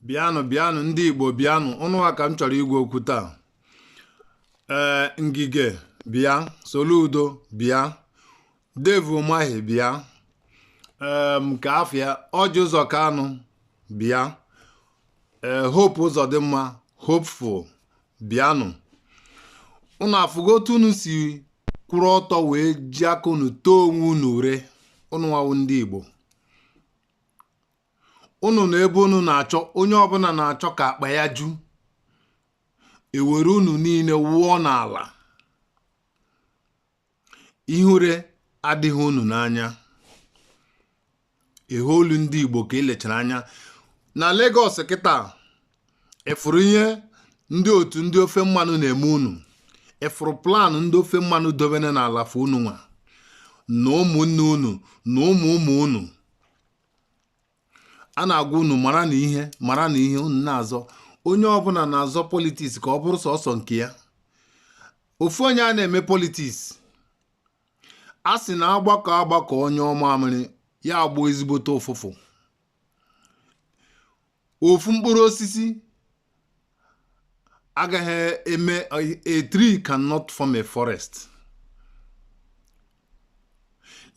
bịanụ bịanụ ndị Igbo bịanụ unu nwa ka m chọrọ ịgwa okwu taa ee Ngige bịa Soludo bịa Dave Umahi bịa ee nke afịa Ọjị Ụzọ Kanụ bịa ee Hope Ụzọdịmma Hopeful bịanụ unu afụgo otu unu si kwụrụ ọtọ wee ji aka unu too onwe unu ure unu nwa wụ ndị Igbo unu na ebe unu na-achọ onye ọbụla na-achọ ka akpa ya ju e were unu niile wụọ n'ala ihere adịghị unu n'anya ehe olu ndị Igbo ka elechara anya na Lagos kịta ị fụrụ ihe ndị otu ndị ofe mmanụ na-eme unu ị fụrụ plan ndị ofe mmanụ dobere na ala for unu nwa na ụmụnne unu na ụmụ ụmụ unu a na-agwa unu maranụ ihe maranụ ihe unu na-azọ onye ọbụla na-azọ politiks ka ọ bụrụ sọsọ nke ya ofu onye a na-eme politiks a sị na a gbakọọ agbakọọ nyụọ mamịrị ya agbọọ ezigbote ụfụfụ ofu mkpụrụ osisi agaghị eme a tree cannot form a forest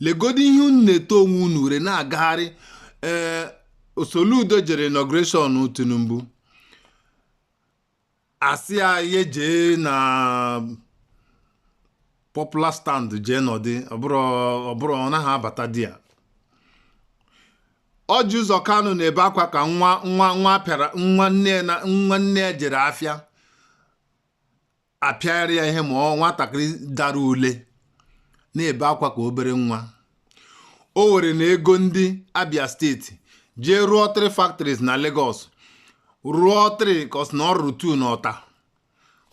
legodu ihe unu na-eto onwe unu ure na-agagharị ee Soludo jere inauguration Tinubu a sị ya ya jee na popular stand jee nọdị ọ bụrụ ọ bụrụ ọ naghị abata there Ọjị Ụzọ Kanụ na-ebe akwa ka nwa nwa nwa pịara nwa nne ya na nwa nne ya jere afịa a pịara ya ihe ma ọ nwatakịrị dara ule na-ebe akwa ka obere nwa o were na ego ndị Abia steeti jee rụọ three factories na Lagos rụọ three kos na ọ rụrụ two na Ọta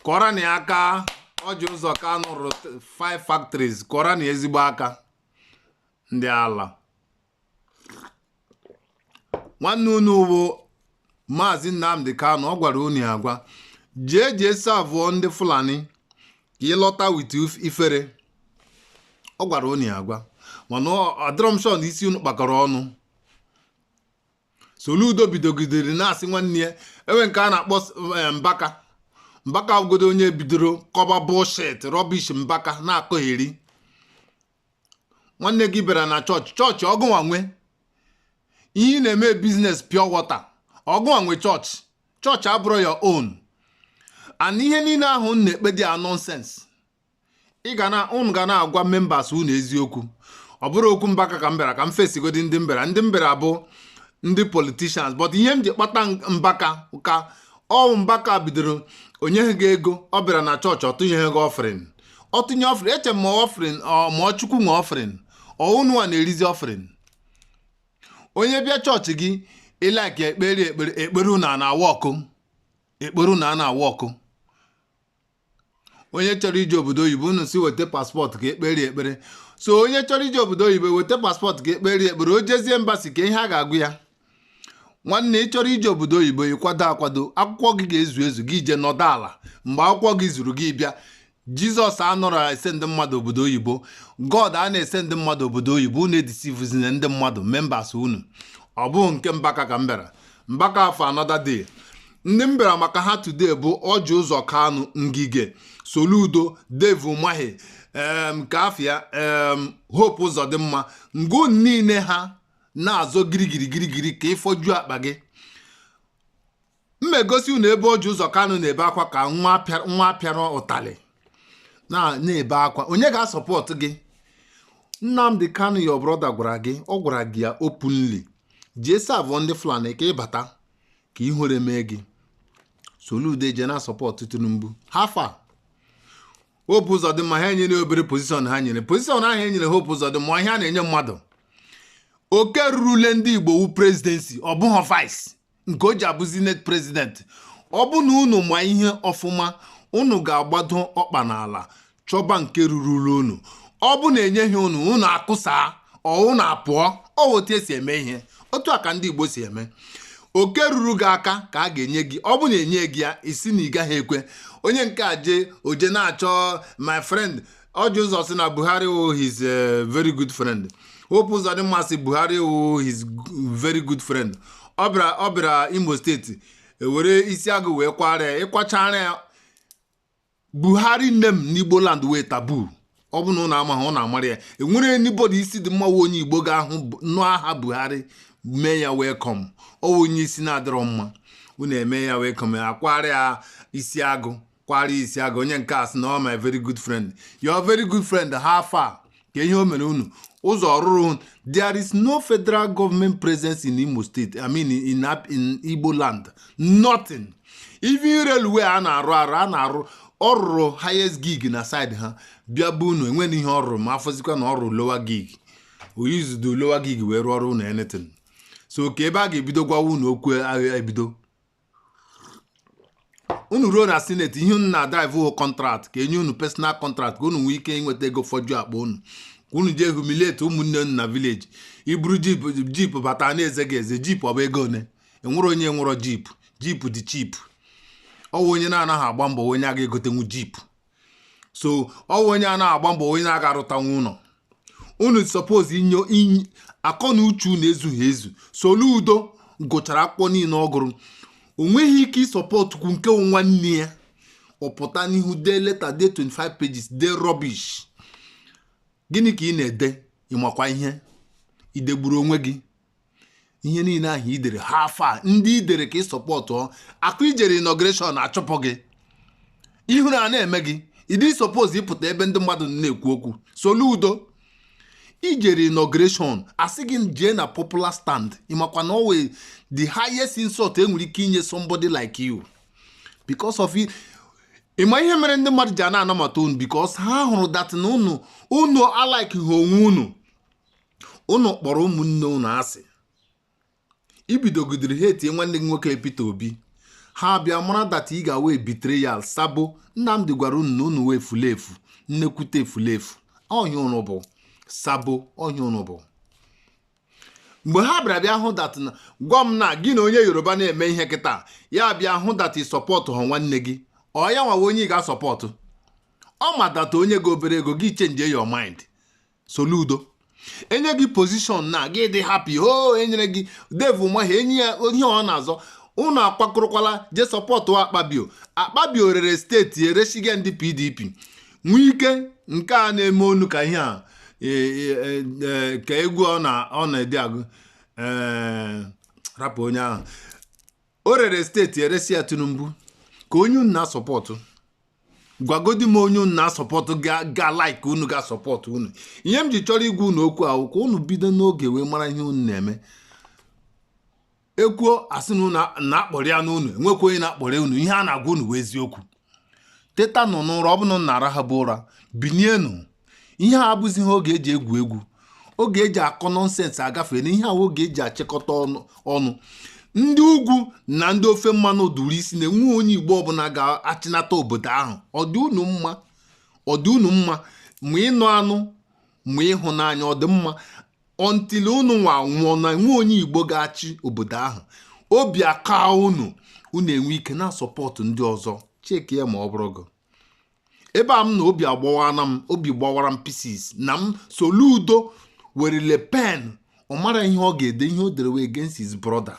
kụọrọnụ ya aka Ọjị Ụzọ Kanụ rụrụ five factories kụọrọnụ ya ezigbo aka ndị ala nwanne unu bụ maazị Nnamdi Kanu ọ gwara unu ya agwa jee jee savụọ ndị Fulani ka ị lọta with ifere ọ gwara unu ya agwa mana adịrọ m sure na isi unu kpakọrọ ọnụ Soludo bidogidere na-asị nwanne ya enwe nke a na-akpọ eh, Mbaka Mbaka bụgodu onye bidoro kọba bullshit rubbish Mbaka na-akọgheri nwanne gị bịara na chọọchị chọọchị ọ gụnwa nwe ihe ị na-eme biznes pure water ọ gụnwa nwe chọọchị chọọchị abụrọ your own and ihe niile ahụ unu na-ekpe dị a nọnsens ị ga na unu ga na-agwa membas unu eziokwu ọ bụrọ okwu mbaka ka m bịara ka m fesigodi ndị m bịara ndị m bịara bụ ndị politishans but ihe m ji kpatụ mbaka aka ọ mbaka bidoro o nyeghị gị ego ọ bịara na chọọchị ọ tụnyeghị gị ọfrịn ọ tụnye ọfrin e chee ma ọfrin ma ọ chukwu nwe ọfrin ọ ụnụwa na-erizi ọfrin onye bịa chọọchị gị ị like ekpere ekpere ekpere na na-awa ọkụ ekpere na na-awa ọkụ onye chọrọ ije obodo oyibo unu sị weta paspọtụ ka e kpere ekpere so onye chọrọ ije obodo oyibo weta paspọtụ ka e kpere ekpere o jezie embasi kee ihe a ga-agwa ya nwanne ị chọrọ ije obodo oyibo ị kwado akwado akwụkwọ gị ga-ezu ezu gị jee nọdụ ala mgbe akwụkwọ gị zuru gị bịa jizọs anarọ esendi mmadụ obodo oyibo god a na-esendi mmadụ obodo oyibo unu edisivuzina ndị mmadụ membas unu ọ bụghị nke mbaka ka m bịara mbaka ọ for another day ndị m bịara maka ha today bụ ọjị ụzọ kanụ ngige soludo dave umahi nke afia hope uzodimma mgbe niile ha na-azọ girigiri girigiri ka i foju akpa gị m egosi unu ebe Ọjị Ụzọ Kanụ na-ebe akwa ka nwa a pịara ụtalị na-ebe akwa onye ga-asọpọtụ gị Nnamdi Kanu your brother gwara gị ọ gwara gị ya openly jee savụ ndị Fulani ka ị bata ka ihere mee gị Soludo jee na-asọpọtụ Tinubu how far hope uzodimma ha e nyere obere pozishọn ha nyere pozishọn ahụ e nyere hope uzodimma ihe a na-enye mmadụ oke rurule ndị igbo wu prezidensi ọ bụghị vice nke o ji abụ senate prezidenti ọ bụ na unu ma ihe ọfụma unu ga-agbado ọkpa n'ala chọba nke rurule unu ọ bụ na e nyeghị unu unu akụsaa ọ wụ unu apụọ ọ wụ otu e si eme ihe otu a ka ndị Igbo si eme oke ruru gị aka ka a ga-enye gị ọ bụ na e nyeghị ya ị sị na ị gaghị ekwe onye nke a jee o jee na-achọ my friend ọjị ụzọ sị na Buhari wụ his eh, very good friend Hope Uzodimma sị Buhari wụ his very good friend ọ bịara ọ bịara Imo steeti e were isi agụ wee kwara ya ị kwachara ya buhari name n'igbo land wụ tabu ọ bụ na ụnụ amaghị ụnụ amara ya e nwere anybody isi dị mma onye igbo ga-ahụ nụ aha buhari mee ya welkom ọ onye isi na-adịrọ mma unu emee ya welkom a kwara ya isi agụ kwara isi agụ onye nke a sị na ọ my very good friend your very good friend how far kee ihe o mere unu ụzọ ọ rụrụ there is no federal government presence in Imo State I mean in, in Igbo land nothing even railway a na-arụ arụ a na-arụ ọ rụrụ highest gauge na side ha bịa be unu enweghị ihe ọ rụrụ ma afọzikwa na ọ rụrụ lower gauge o use the lower gauge wee rụọrọ unu anything so kee ebe a ga-ebido gwawa unu okwu a ga-ebido unu ruo na senate ihe unu na-adrive wụ contract ka e nye unu personal contract ka unu nwee ike inweta ego foju akpa unu ka unu jee humiliate ụmụnne unu na village i buru jeep bata a na-eze gị eze jeep ọ bụ ego one e nwere onye nwerọ jeep jeep dị cheap ọ wụ onye na-anaghị agba mbọ wụ onye aga egotenwu jeep so ọ wụ onye anaghị agba mbọ wụ onye aga arụtanwu ụlọ unu suppose inwe akọ na uche unu ezughị ezu Soludo gụchara akwụkwọ niile ọ gụrụ o nweghị ike ịsupportkwu nke wụ nwanne ya ọ pụta n'ihu dee leta dee 25 pages dee rubbish gịnị ka ị na-ede ị makwa ihe i degburu onwe gị ihe niile ahụ i dere how far ndị i dere ka ị support ka i jere inauguration a chụpụ gị ihere ana eme gị ị dị suppose ịpụta ebe ndị mmadụ na-ekwu okwu Soludo i jere inauguration a sị gị jee na popular stand ị makwa na ọ wụ the highest insult e nwere ike inye somebody like you because of ị ma ihe mere ndị mmadụ ji ana anabata unu because ha hụrụ that na unu unu alikeha onwe unu ụnụ kpọrọ ụmụnne ụnụ asị ibidogidere ha etinye nwanne gị nwoke Peter Obi ha bịa mara that ị ga-awụ betrayal sabo Nnamdi gwara unu na unu wụ efulefu nnekwute efulefu ọ ihe ụnụ bụ sabo ọ ihe ụnụ bụ mgbe ha bịara bịa hụ that na gwa m na gị na onye Yoruba na-eme ihe kịta ya bịa hụ that ị supportụha nwanne gị ọ ya nwa wụ onye ị ga-asupport ọ ma that o nye gị obere ego gị change your mind Soludo e nye gị position na gị dị happy o oh, e nyere gị Dave Umahi e nye ya ihe ọ na-azọ unu akwakọrọkwala je support Akpabio Akpabio rere state eresiga ndị PDP Wike nke a na-eme ọnụ ka ihe a e, e, e, ka egwu ọ na-ede agụ rapụ onye ahụ o rere state eresi ya Tinubu kee onye unu na-asupport gwagodi m onye unu na-asupport ga-alike unu ga-asupport unu ihe m ji chọrọ igwa unu okwu a wụ ka unu bido n'oge wee mara ihe unu na-eme e kwuo a sị na a na-akparị unu enwekwa onye na-akparị unu ihe a na-agwa unu wụ eziokwu tetanụ n'ụra ọ bụrụ na unu na-arahabu ụra binienụ ihe a abụzighị oge eji egwu egwu oge eji akọ nonsense agafeena ihe a wụ oge eji achịkọta ọnụ ndị ugwu na ndị ofe mmanụ duru isi na enwe onye igbo ọbụla ga-achịnata obodo ahụ ọ dị unu mma ọ dị unu mma ma ị nụ anụ ma ị hụ n'anya ọ dị mma until unu nwa nwụọ na enwe onye igbo ga-achị obodo ahụ obi akaa unu unu enwee ike na-asupport ndị ọzọ check ya ma ọ bụrụ gị ebe a m nọ obi agbawaana m obi gbawara m pieces na m Soludo werele pen ọ mara ihe ọ ga-ede ihe o dere wụ against his brother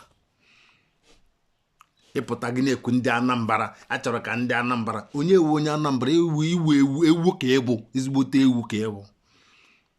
ị pụta gị na-ekwu ndị anambra achọrọ ka ndị anambra onye ewu onye anambra ewu ị wụ ewu ewu ka ị bụ ezigbote ewu ka ị bụ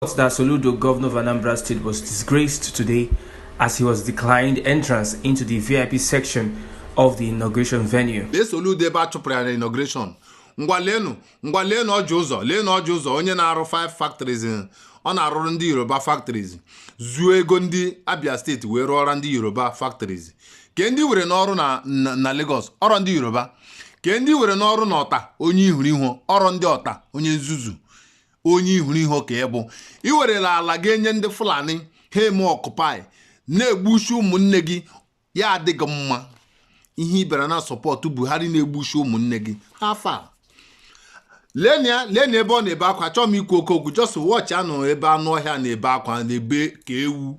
reports that Soludo, governor of Anambra State, was disgraced today as he was declined entrance into the VIP section of the inauguration venue. lee Soludo ebe a chụpụrụ ya na inauguration ngwa leenụ ngwa leenụ Orji Uzor leenụ Orji Uzor onye na-arụ five factories eh, ọ na-arụrụ ndị yoruba factories zuo ego ndị abia steeti wee rụọra ndị yoruba factories kee ndị were n'ọrụ na, na, na lagos ọ rọ ndị yoruba kee ndị were n'ọrụ na Ota onye ihuru ihu ọ rọ ndị Ota onye nzuzu onye ihuru ihu ka ị bụ i werela ala ga enye ndị fulani ha eme occupy na-egbusi ụmụnne gị ya adị gị mma ihe ị bịara na-asupport buhari na-egbusi ụmụnne gị how far leenụ ya leenụ ya ebe ọ na-ebe akwa achọọ m ikwu oke okwu just watchịanụ ebe anụ ọhịa na-ebe akwa na-ebe ka ewu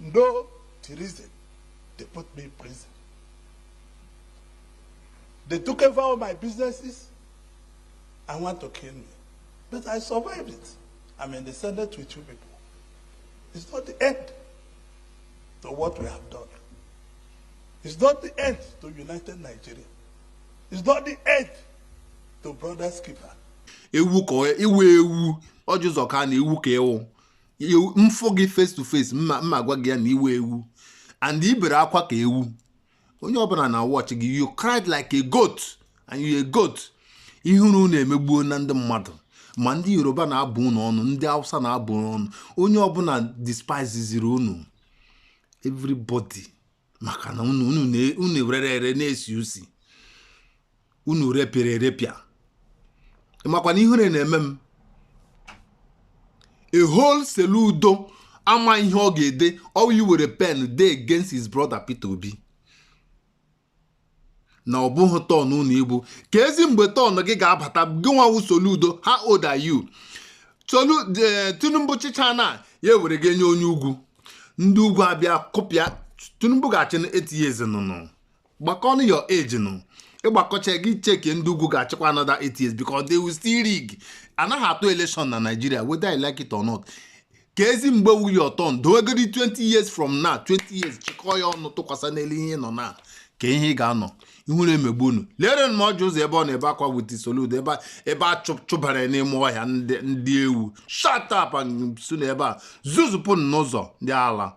No treason, they put me in prison. They took over all my businesses I want to kill me. But I survived it. I'm in the Senate with you people. It's not the end to what we have done. It's not the end to United Nigeria. It's not the end to Brothers Keeper. Ewu ka iwu ewu ọjị ụzọ ka na iwu ka ewu m fụ gị face to face m ma m ma-agwa gị ya na ị wụ ewu and i bere akwa ka ewu onye ọbụla na-awatch gị you cried like a goat and you a goat ihere unu emegbuona ndị mmadụ ma ndị yoruba na-abụ unu ọnụ ndị hausa na-abụ unu ọnụ onye ọbụla despiseziri unu everybody maka na unu unu rere ere na-esi usi unu repịara erepịa makwa na ihere na-eme m a whole Soludo ama ihe ọ ga-ede ọ wụ iwere pen dee against his brother Peter Obi na ọ bụghị turn unu igbo keezi mgbe turn gị ga-abata gị nwa wụ Soludo how old are you Solu eh, Tinubu chịchaa na ya ewere ga nye onye ugwu ndị ugwu abịa kụpịa Tinubu ga-achị na eight years nụnụ gbakọnụ your age nụ ị gbakọchaa gị check ndị ugwu ga-achịkwa another eight years because they will still rig anaghị atụ election na Nigeria whether I like it or not keezi mgbe wụ your turn dowegodi 20 years from now 20 years chịkọọ ya ọnụ tụkwasị n'elu ihe ị nọ na kee ihe ị ga-anọ ihere emegbu unu leere m Orji Uzor ebe ọ na-ebe akwa with Soludo ebe a- ebe a chụ- chụbara ya n'ime ọhịa ndị ndị ewu shut up si na ebe a zuzupụ n'ụzọ ndị ala